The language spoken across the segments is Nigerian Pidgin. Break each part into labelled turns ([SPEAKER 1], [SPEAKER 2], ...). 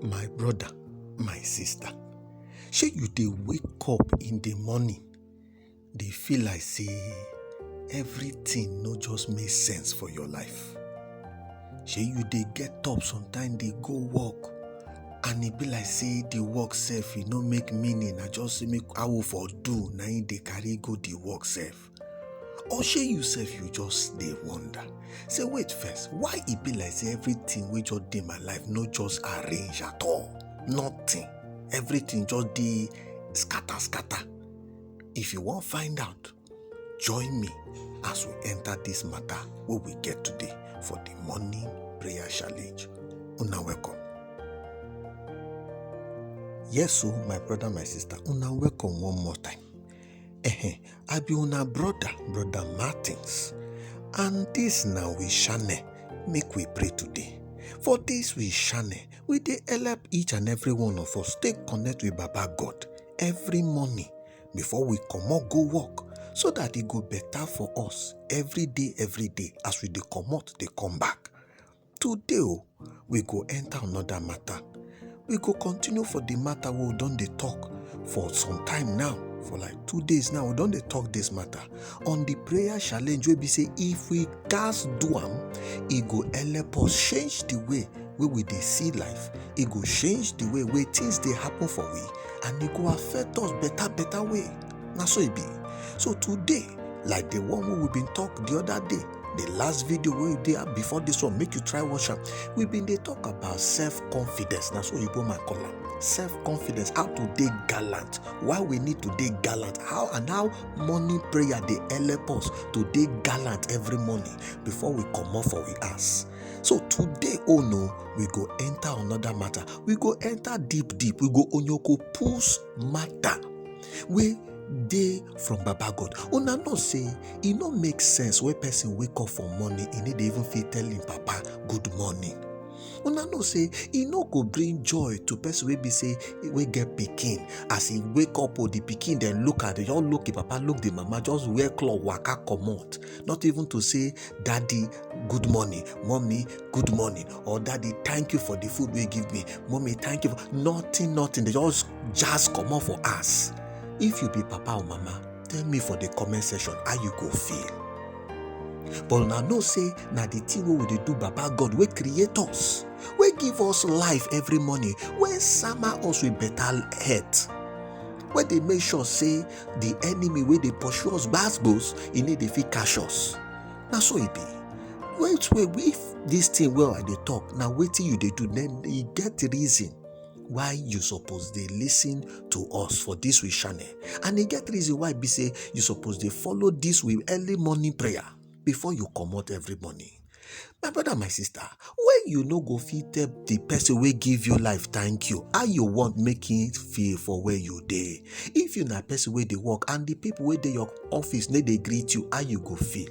[SPEAKER 1] My brother, my sister, shey you dey wake up in the morning dey feel like say everything no just make sense for your life? Shey you dey get up sometimes dey go work and e be like say the work sef e no make meaning na just say make how for do na im dey carry go the work sef? or shey you sef you just dey wonder say wait first why e be like say everything wey just dey my life no just arrange at all nothing everything just dey scatter scatter if you wan find out join me as we enter this matter wey we get today for the morning prayer challenge una welcome yes o my brother my sister una welcome one more time Ehe, I be una brother, brother Martins. And this now we shine, make we pray today. For this we shine, we dey help each and every one of us stay connect with Baba God every morning before we comot go work so that e go better for us every day every day as we dey comot dey come back. Today o, we go enter another matter. We go continue for the matter wey we don dey talk for some time now, for like two days now, we don dey talk this matter on the prayer challenge wey be say if we gats do am, e go help us change the way wey we dey see life, e go change the way wey things dey happen for we and e go affect us better better way. Na so e be. So today, like the one wey we been talk the other day, the last video wey you dey before this one make you try watch am we been dey talk about self confidence na so oyibo man call am self confidence how to dey gallant why we need to dey gallant how and how morning prayer dey help us to dey gallant every morning before we comot for we house so today oh no we go enter another matter we go enter deep deep we go onyoko pulls matter wey dey from baba god una know say e no make sense wey person wake up for morning e no dey even fit tell him papa good morning una know say e no go bring joy to person wey be say wey get pikin as e wake up or the pikin dem look at just look the papa look the mama just wear cloth waka comot not even to say daddy good morning mommy good morning or daddy thank you for the food wey give me mommy thank you for nothing nothing they just jazz comot for us if you be papa or mama tell me for the comment section how you go feel but una know say na the thing wey we dey do baba god wey create us wey give us life every morning wey sama us with better health wey dey make sure say the enemy wey dey pursue us gbas gbos e no dey fit catch us na so e be wait wait if this thing wey i dey talk na wetin you dey do then e get reason why you suppose dey listen to us for this we channel and e get reason why be say you suppose dey follow this we early morning prayer before you comot every morning my brother my sister when you no go fit tell the person wey give you life thank you how you want make him feel for where you dey if you na person wey dey work and the people wey dey your office no dey greet you how you go feel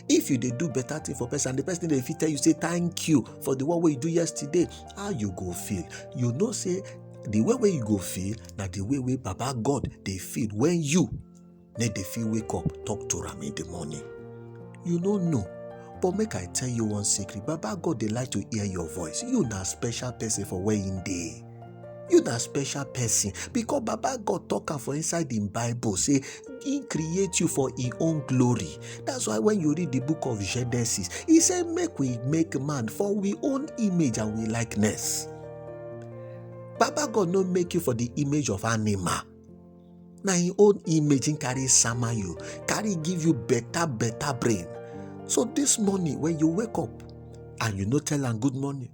[SPEAKER 1] if you dey do better thing for person and the person dey fit tell you say thank you for the one wey you do yesterday how you go feel you know say the way wey you go feel na the way wey baba god dey feel when you na dey feel wake up talk to am in the morning you no know but make i tell you one secret baba god dey like to hear your voice you na special person for where him dey you na special person because baba god talk am for inside im bible say he create you for him own glory that's why when you read the book of genesis he say make we make man for we own image and we likeness baba god no make you for the image of animal na him own image him carry sama you carry give you better better brain so this morning when you wake up and you no tell am good morning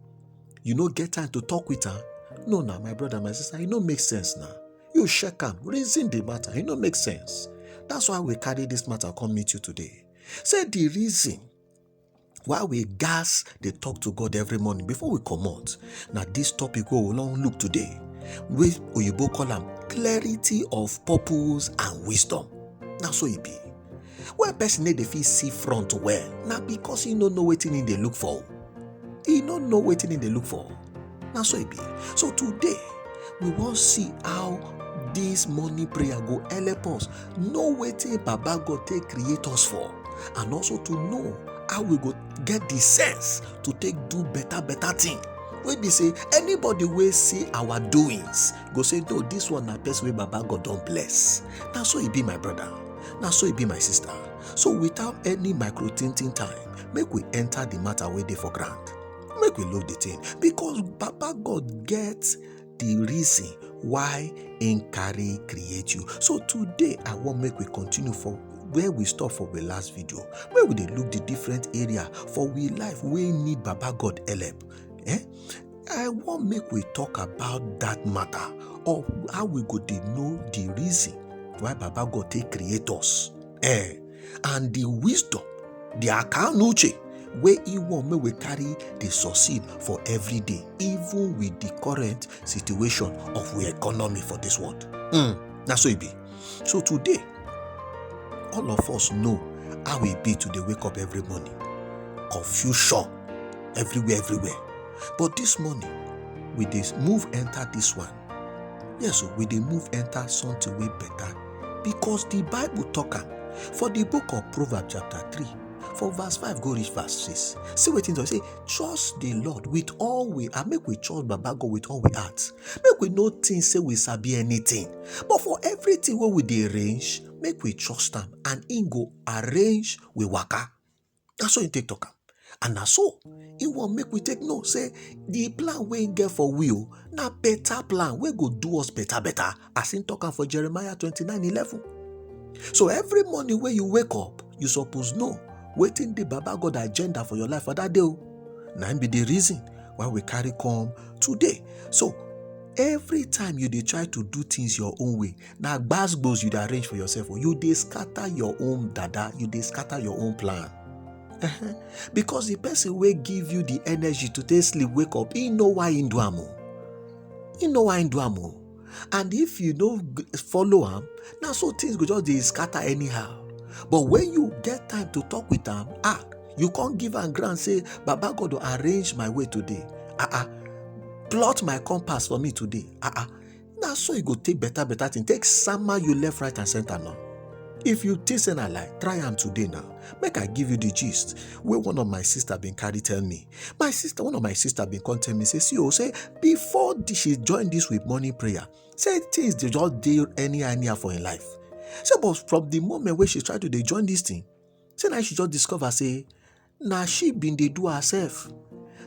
[SPEAKER 1] you no get time to talk with am no na my brother my sister e no make sense na you check am reason the matter e no make sense that's why we carry this matter come meet you today say the reason why we gas dey talk to god every morning before we comot na this topic wey we wan look today wey oyibo call am clarity of purpose and wisdom na so e be When person no dey fit see front well, na because he no know wetin he dey look for. He no know wetin he dey look for. Na so e be. So today, we wan see how this morning prayer go help us know wetin Baba God take create us for and also to know how we go get the sense to take do better better thing wey be say anybody wey see our doings go say no this one na person wey baba god don bless na so e be my brother na so e be my sister so without any micro tinting time make we enter the matter wey dey for ground make we look the thing because baba god get the reason why im carry create you so today i wan make we continue for where we stop for the last video where we dey look the different area for we life wey need baba god help eh I want make we talk about that matter of how we go dey know the reason why Baba God take create us eh, and the wisdom, the akanuche wey he want make we carry dey succeed for every day even with the current situation of we economy for this world. Mm, na so e be. So today, all of us know how e be to dey wake up every morning. Confusion everywhere, everywhere. But this morning, we dey move enter this one. Yes, we dey move enter something way better because the Bible talk am for the book of Proverbs chapter 3 for verse 5 go reach verse 6 see what things say trust the lord with all we and make we trust baba god with all we heart make we no think say we sabi anything but for everything wey we dey arrange make we trust am and im go arrange we waka na so im take talk am and na so im wan make we take know say the plan wey im get for we o na better plan wey go do us better better as im talk am for jeremiah twenty nine eleven so every morning wey you wake up you suppose know wetin the baba god agenda for your life for that day o na im be the reason why we carry come today so every time you dey try to do things your own way na gbasgbos you dey arrange for yourself o you dey scatter your own dada you dey scatter your own plan uh-huh. because the person wey give you the energy to take sleep wake up he know why he do am o he know why he do am o and if you no follow am na so things go just dey scatter anyhow but when you get time to talk with am ah you come give am ground say baba god go arrange my way today ah ah plot my compass for me today ah ah na so e go take better better thing take sama you left right and center now if you think say na lie try am today now make i give you the gist wey one of my sister bin carry tell me my sister one of my sister been come tell me say see oh say before the, she join this with morning prayer say things dey just dey any anyhow for im life say but from the moment wey she try to dey join this thing say na she just discover say na she been dey do herself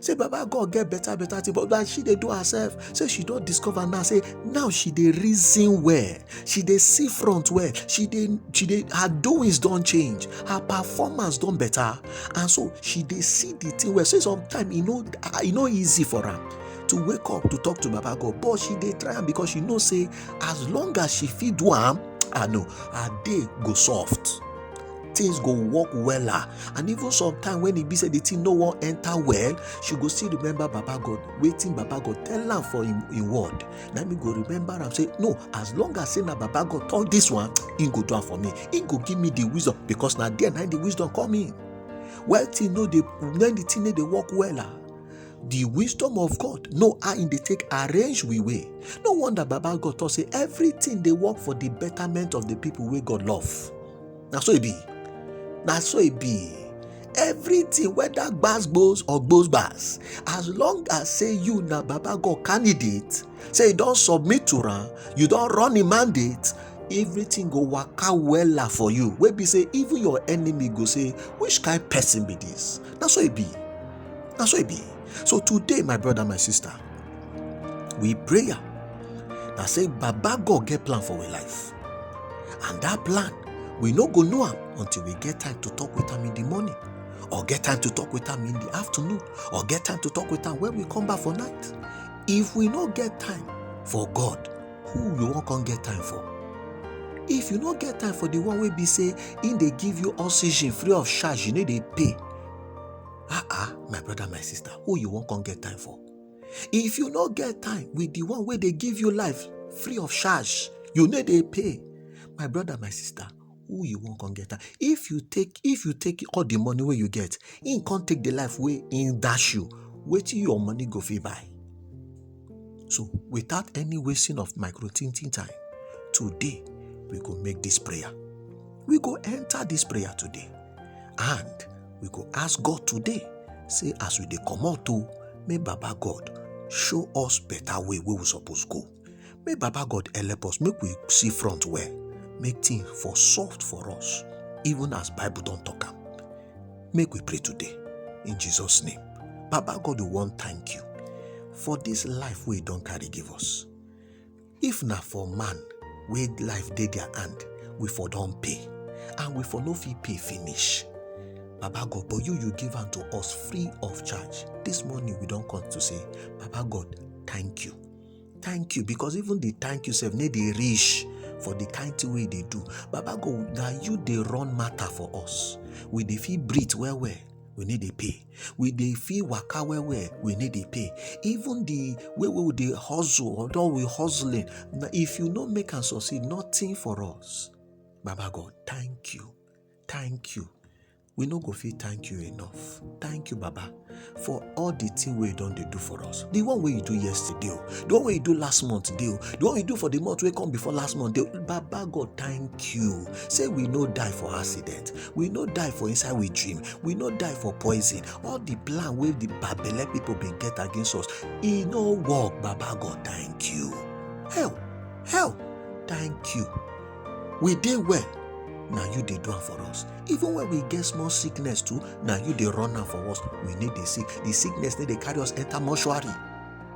[SPEAKER 1] say baba god get better better thing but na she dey do herself say she don discover now say now she dey reason well she dey see front well she dey she dey her doings don change her performance don better and so she dey see the thing well so sometimes e no e no easy for her to wake up to talk to baba god but she dey try am because she know say as long as she fit do am i know her day go soft things go work wella and even sometimes when e be say the thing no wan enter well she go still remember baba god wetin baba god tell am for im word na me go remember am say no as long as say na baba god talk this one he go do am for me he go give me the wisdom because na there na the wisdom come in well thing no dey when the thing no dey work well ah the wisdom of God know how in dey take arrange we way. No wonder Baba God talk say everything dey work for the betterment of the people wey God love. na so e be na so e be everything whether gbas gbos or gbos gbas as long as say you na baba god candidate say you don submit to am you don run im mandate everything go waka wella for you wey be say even your enemy go say which kind person be this na so e be na so e be so today my brother my sister we prayer na say baba god get plan for we life And that plan, we no go know am until we get time to talk with am in the morning, or get time to talk with am in the afternoon, or get time to talk with am when we come back for night. If we no get time for God, who we wan come get time for? If you no get time for the one wey be say im dey give you oxygen free of charge, you no dey pay. Ah ah, my brother, my sister, who you wan come get time for? if you no get time with the one wey dey give you life free of charge you no dey pay my brother my sister who you wan come get am if you take if you take all the money wey you get him come take the life wey him dash you wetin your money go fit buy so without any wasting of micro thinking time today we go make this prayer we go enter this prayer today and we go ask god today say as we dey comot o may baba god show us better way wey we suppose go may baba god help us make we see front well make things for soft for us even as bible don talk am make we pray today in jesus name baba god we wan thank you for this life wey you don carry give us if na for man wey life dey their hand we for don pay and we for no fit pay finish baba god but you you give am to us free of charge this morning we don come to say baba god thank you thank you because even the thank you sef no dey reach for the kind thing wey you dey do baba god na you dey run matter for us we dey fit breathe well well we no dey pay we dey fit waka well well we no dey pay even the way wey we dey hustle although we hustling na if you no make am succeed nothing for us baba god thank you thank you we no go fit thank you enough thank you baba for all the thing wey you don dey do for us the one wey you do yesterday o the one wey you do last month dey o the one you do for the month wey come before last month dey o baba god thank you say we no die for accident we no die for inside we dream we no die for poison all the plan wey the babele people bin get against us e no work baba god thank you hell hell thank you we dey well na you dey do am for us even when we get small sickness too na you dey run am for us we no dey sick the sickness no dey carry us enter mortuary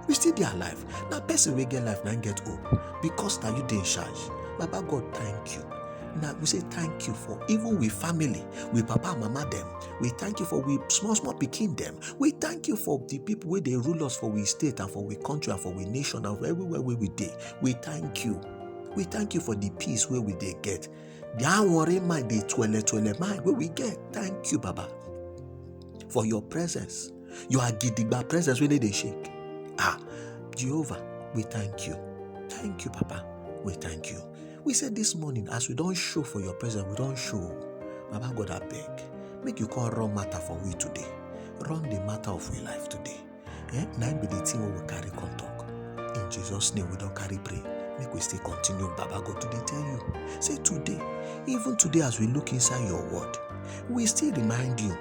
[SPEAKER 1] we still dey alive na person wey get life na im get hope because na you dey in charge baba god thank you na we say thank you for even we family we papa and mama dem we thank you for we small small pikin dem we thank you for the people wey dey rule us for we state and for we country and for we nation and for everywhere wey we dey we thank you we thank you for the peace wey we dey get the anwore mind the twele twele mind wey we get thank you baba for your presence You are gidigba presence wey no dey shake. Ah, Jehovah, we thank you. Thank you, Papa. We thank you. We say this morning, as we don show for your presence, we don show. Baba God, abeg, make you come run matter for we today. Run the matter of we life today. Eh? Na im be the thing wey we carry come talk. In Jesus' name, we don carry pray. Make we still continue, Baba God, to dey tell you. Say today, even today as we look inside your word, we still remind you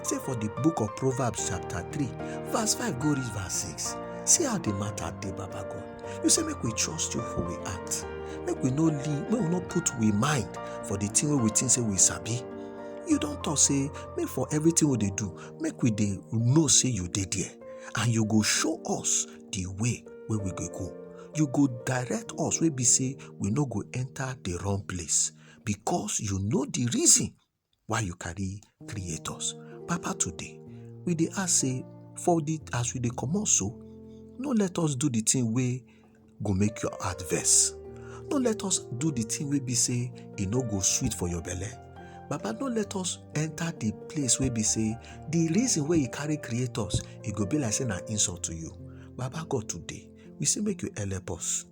[SPEAKER 1] Say for the book of Proverbs chapter 3 verse 5 go reach verse 6. See how the matter dey Baba God. You say make we trust you for we act. Make we no leave, make we no put we mind for the thing wey we think say we sabi. You don talk say make for everything we dey do, make we dey know say you dey there and you go show us the way wey we go go. You go direct us wey be say we no go enter the wrong place because you know the reason why you carry create us papa today we dey ask say for the as we dey comot so no let us do the thing wey go make your heart vex no let us do the thing wey be say e no go sweet for your belle baba no let us enter the place wey be say the reason wey e carry create us e go be like say na insult to you baba god today we say make you help us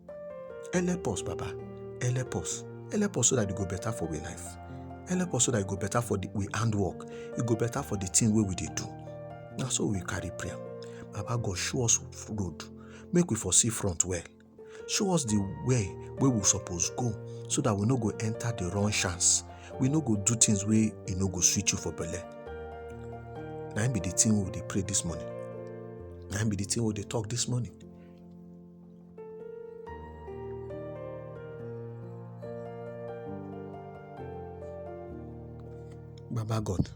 [SPEAKER 1] help us baba help us help us so that e go better for we life help us so that e go better for the we handwork e go better for the thing wey we dey do na so we carry prayer baba god show us road make we for see front well show us the way wey we suppose go so that we no go enter the wrong chance we no go do things wey e no go sweet you for belle na im be the thing we dey pray this morning That be the thing we they talk this morning. Baba God,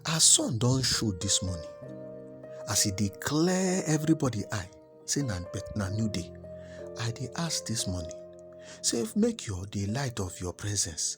[SPEAKER 1] our son don't show this morning as he declare everybody eye say na na new day i dey ask this morning say make your the light of your presence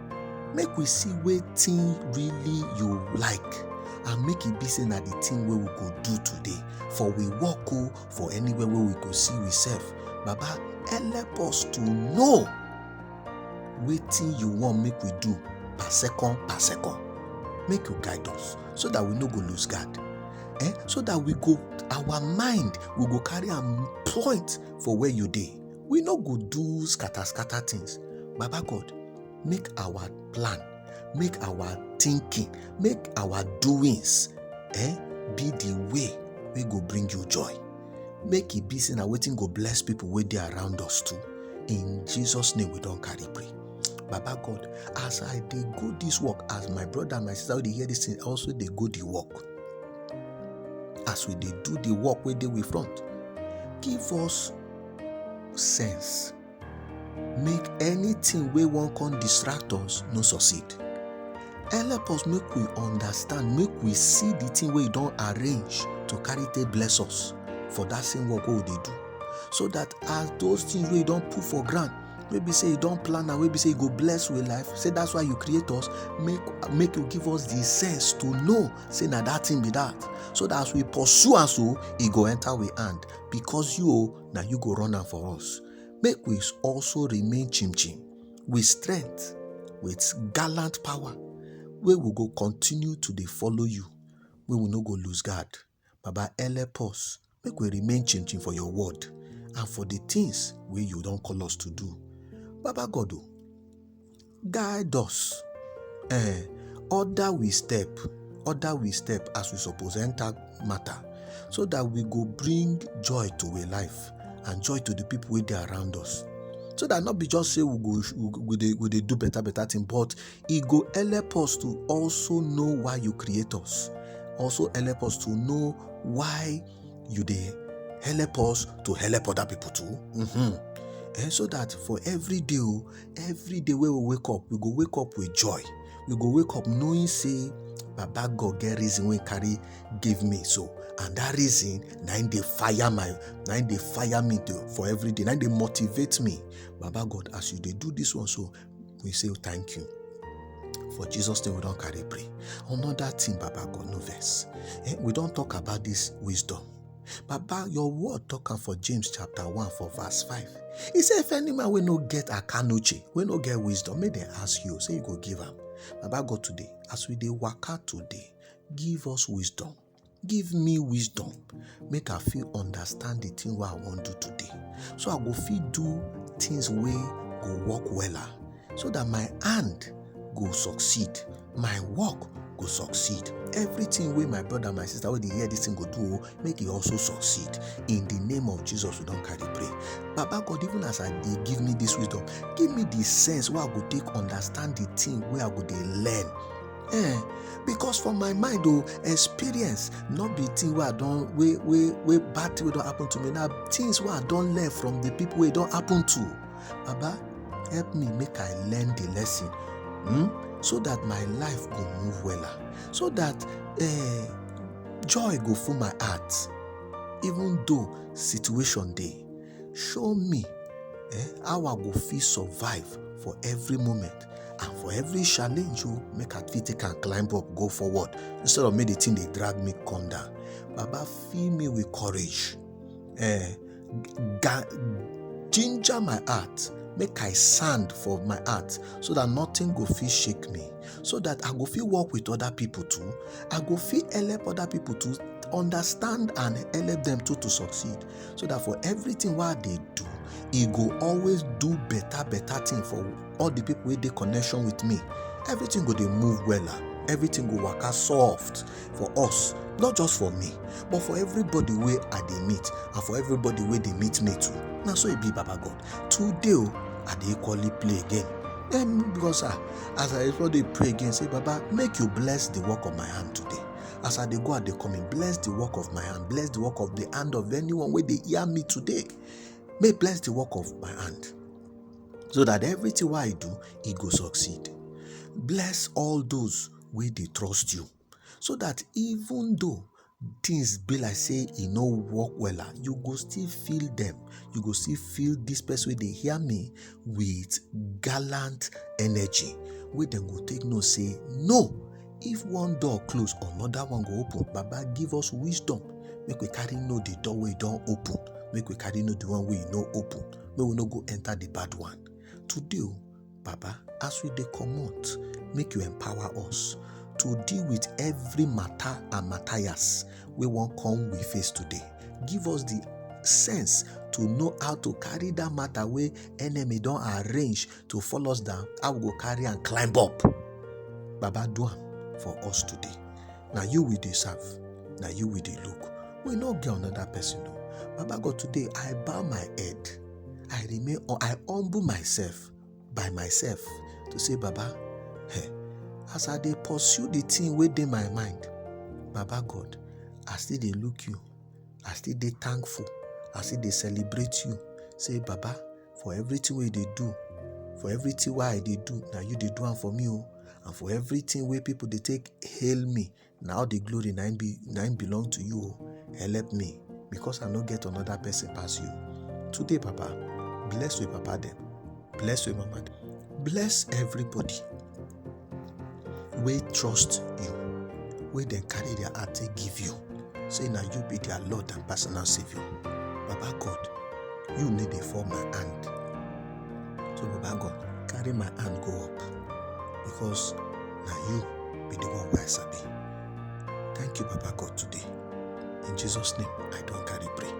[SPEAKER 1] make we see wetin really you like and make e be say na the thing wey we go do today for we work o for anywhere wey we go see we sef baba help us to know wetin you want make we do per second per second make you guide us so that we no go lose guard eh so that we go our mind we go carry am point for where you dey we no go do scatter scatter things baba god make our plan make our thinking make our doings eh, be the way wey go bring you joy make e be say na wetin go bless people wey dey around us too in jesus name we don carry pray baba god as i dey go this work as my brother and my sister wey dey hear this thing also dey go the work as we dey do the work wey dey we front give us sense make anything wey wan come distract us no succeed help us make we understand make we see the thing wey you don arrange to carry take bless us for that same work wey we dey do so that as those things wey you don put for ground wey be say you don plan am wey be say you go bless with life say that's why you create us make make you give us the sense to know say na that thing be that so that as we pursue am so e go enter we hand because you o na you go run am for us make we also remain chim chim with strength with gallant power wey we go continue to dey follow you wey we no go lose guard baba help us make we remain chim chim for your word and for the things wey you don call us to do baba god o Guide us, eh, order we step, order we step as we suppose enter matter, so that we go bring joy to a life and joy to the people wey dey around us. So that not be just say we go we go- we dey we dey do better better thing, but e go help us to also know why you create us, also help us to know why you dey help us to help other people too. Mhm. Eh, so that for every day o, every day wey we wake up we go wake up with joy we go wake up knowing say baba god get reason wey carry give me so and that reason na im dey fire my na im dey fire me to, for every day na im dey motivate me baba god as you dey do this one so we say thank you for jesus name we don carry pray another thing baba god no vex eh, we don talk about this wisdom Baba, your word talk am for James chapter 1 for verse 5. He say if any man wey no get akanuche, wey no get wisdom, make dem ask you, say you go give am. Baba God today, as we dey waka today, give us wisdom. Give me wisdom. Make I fit understand the thing wey I wan do today. So I go fit do things wey go work wella. so that my hand go succeed my work go succeed everything wey my brother my sister wey dey hear this thing go do o make e also succeed in the name of jesus we don carry pray baba god even as i dey give me this wisdom give me the sense wey i go take understand the thing wey i go dey learn eh because for my mind o experience no be thing wey i don wey wey wey bad thing wey don happen to me na things wey i don learn from the people wey e don happen to Baba, help me make I learn the lesson hmm? so that my life go move well, so that uh, joy go full my heart, even though situation day. Show me eh, how I go feel survive for every moment and for every challenge you oh, make I fit take and climb up, go forward instead of make the thing they drag me come down. Baba, fill me with courage. Eh, ginger my heart make i sand for my heart so that nothing go fit shake me so that i go fit work with other people too i go fit help other people to understand and help them too to succeed so that for everything wey i dey do e go always do better better thing for all the people wey dey connection with me everything go dey move wella everything go waka soft for us not just for me but for everybody wey i dey meet and for everybody wey dey meet me too na so e be baba god today o i dey equally play again then because ah as i equally dey pray again say baba make you bless the work of my hand today as i dey go i dey come in bless the work of my hand bless the work of the hand of anyone wey dey hear me today may bless the work of my hand so that everything wey i do e go succeed bless all those wey dey trust you so that even though things be like say e no work wella you go still feel them. you go still feel this person wey dey hear me with gallant energy wey dem go take know say no if one door close another one go open baba give us wisdom make we carry know the door wey don open make we carry know the one wey no open make we no go enter the bad one today o Baba, as we dey comot, make you empower us to deal with every matter and matthias wey wan come we face today. Give us the sense to know how to carry that matter wey enemy don arrange to follow us down, how we go carry and climb up. Baba, do am for us today. Na you we dey serve, na you we dey look. We no get another person. o. Baba God, today I bow my head. I remain, I humble myself by myself to say, Baba, hey, as I dey pursue the thing wey dey my mind, Baba God, I still dey look you. I still dey thankful. I still dey celebrate you. Say, Baba, for everything wey dey do, for everything wey I dey do, now you dey do am for me, oh. And for everything wey people dey take hail me, na all the glory na im be na im belong to you o help me because i no get another person pass you today papa bless your papa dem bless your mama dem bless everybody wey trust you wey dem carry their heart take give you say na you be their lord and personal saviour baba god you no dey fall my hand so baba god carry my hand go up because na you be the one wey I sabi. Thank you, Papa God, today. In Jesus' name, I don carry pray.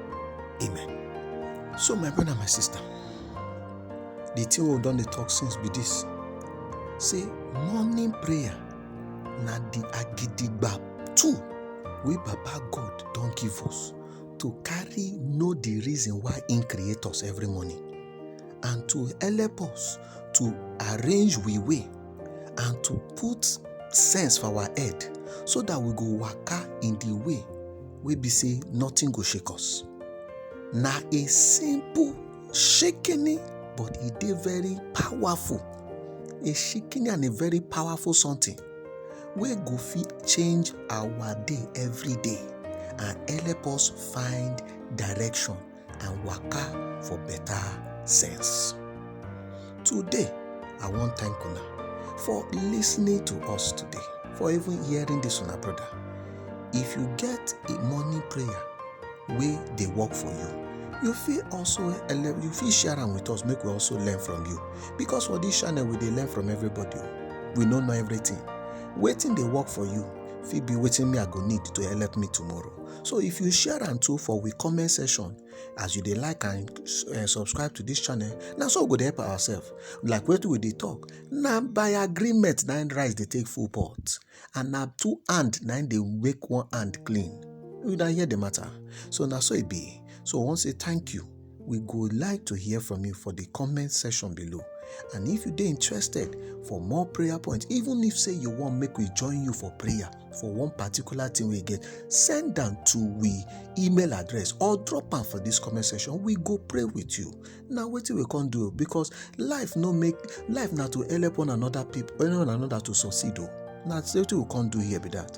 [SPEAKER 1] Amen. So, my brother and my sister, the thing wey we don dey talk since be this. Say morning prayer na the agidigba tool wey Baba God don give us to carry know the reason why im create us every morning and to help us to arrange we way and to put sense for our head so that we go waka in the way wey be say nothing go shake us na a simple shikini but e dey very powerful a shikini and a very powerful something wey go fit change our day every day and help us find direction and waka for better sense. Today, I wan thank una for listening to us today, for even hearing this una brother. If you get a morning prayer wey dey work for you, you fit also ele- you fit share am with us make we also learn from you because for this channel we dey learn from everybody o. we no know everything wetin dey work for you fit be wetin me i go need to help me tomorrow so if you share am too for we comment section as you dey like and eh, subscribe to this channel na so we go dey help ourselves like wetin we dey talk na by agreement na rice dey take full pot and na two hand na dey make one hand clean you na hear the matter so na so e be so we wan say thank you We go like to hear from you for the comment section below. And if you dey interested for more prayer points, even if say you want make we join you for prayer for one particular thing we get, send them to we email address or drop them for this comment section. We go pray with you. Now what we can do because life no make life not to help one another people, one another to succeed. Oh. Now that's what we can do here be that.